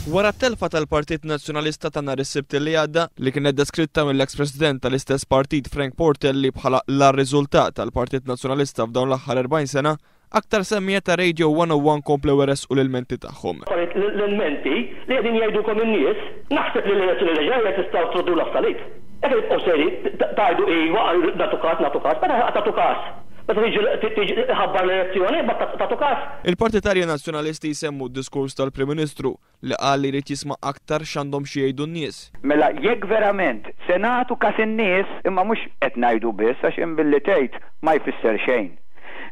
Wara t-telfa tal-Partit Nazzjonalista ta' nhar is-Sibt li għadda, li kienet deskritta mill-eks President tal-istess Partit Frank Portelli bħala l-agħar riżultat tal-Partit Nazzjonalista f'dawn l-aħħar 40 sena, aktar semmiegħa ta' Radio 101 komplew iressqu l-ilmenti tagħhom. Wara l-ilmenti li qegħdin jgħidulkom in-nies, naħseb li l-elezzjoni li ġejja tistgħu truddulha f'salib. Jekk tibqgħu sejrin tgħidu iva għal nagħtu każ, nagħtu każ, meta ħa tagħtu każ? Meta tiġi tħabbar l-elezzjoni, imbagħad tagħtu kas. Il-partitarji Nazzjonalisti jsemmu d-diskors tal-Prim Ministru li qal li jrid jisma' aktar x'għandhom xi jgħidu n-nies. Mela jekk verament se nagħtu kas in-nies, imma mhux qed ngħidu biss għax hemm billi tgħid ma jfisser xejn.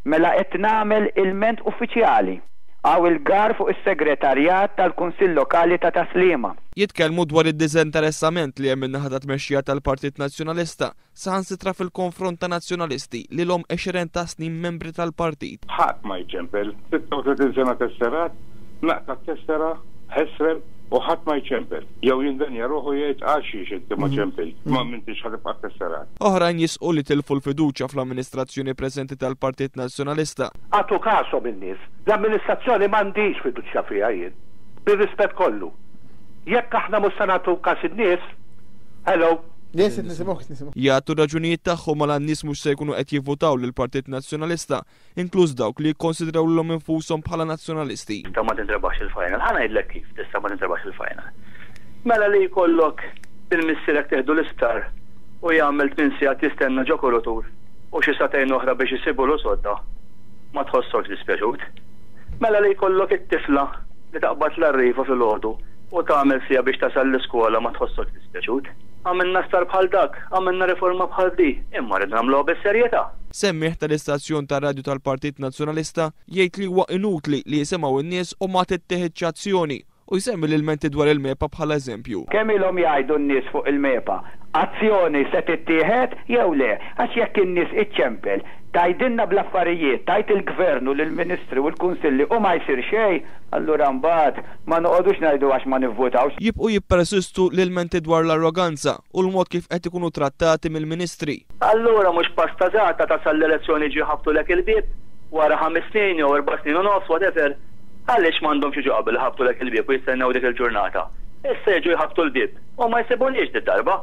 Mela qed nagħmel ilment uffiċjali. Hawn il-gar fuq is-Segretarjat tal-Kunsill Lokali ta' Tas-Sliema. Jitkellmu dwar id-diżinteressament li hemm min-naħa tat-tmexxija tal-Partit Nazzjonalista Saħansitra fil-konfront ta' Nazzjonalisti li ilhom għexieren ta' snin membri tal-partit. Ħadd ma jċempel. 36 sena tesserat, naqta' t-tessera, ħesrem u ħadd ma jċempel. Jew jindenja ruħu jgħid għalxiex inti ma ċempilt, ma m'intix ħa tibqa' tesserat. Oħrajn jisqu li tilfu l-fiduċja fl-amministrazzjoni preżenti tal-Partit Nazzjonalista. Agħtu kashom in-nies. L-amministrazzjoni m'għandix fiduċja fiha jien. Bir-rispett kollu. Jekk aħna mhux se nagħtu każ in-nies, hello. Jagħtu r-raġunijiet tagħhom għala n-nies mhux se jkunu qed jivvutaw lill-Partit Nazzjonalista, inkluż dawk li jikkonsidraw lilhom infushom bħala Nazzjonalisti. Inta ma tintrebaħx il-final. Ħa ngħidlek kif tista' ma tintrebaħx il-final. Mela li jkollok lil missierek tieħdu l-isptar u jagħmel tmien sigħat jistenna ġo kurutur u xi sagħtejn oħra biex isibulu sodda. Ma tħossokx dispjaċut. Mela li jkollok it-tifla li taqbad l-arriva filgħodu U tagħmel siegħa biex tasal l-iskola ma tħossokx dispjaċut. Għamilna star bħal dak, għamilna riforma bħal di, imma rridu nagħmluha bis-serjetà. Semmiegħ tal-istazzjon tar-radju tal-Partit Nazzjonalista jgħid li huwa inutli li jisimgħu n-nies u ma tittieħidx azzjoni u jsemmi l-ilmenti dwar il-MEPA bħala eżempju. Kemm ilhom jgħidu n-nies fuq il-MEPA? Azzjoni se tittieħed jew le? Għax jekk in-nies iċċempel, tgħidilna bl-affarijiet, tgħid il-Gvern u l-Ministri u l-Kunsilli u ma jsir xejn, allura mbagħad, Ma noqogħdux ngħidu għax ma nivvutawx. Jibqgħu jippersistu l-ilmenti dwar l-arroganza u l-mod kif qed ikunu trattati mill-Ministri. Allura mhux pasta żgħata tasal l-elezzjoni jiġu jħabbtulek il-bieb wara ħames snin jew erba' snin u nofs, whatever. Għaliex m'għandhomx jiġu qabel iħabbtulek il-bieb u jistennew dik il-ġurnata? Issa jiġu jħabbtu l-bieb u ma jsibunix did-darba.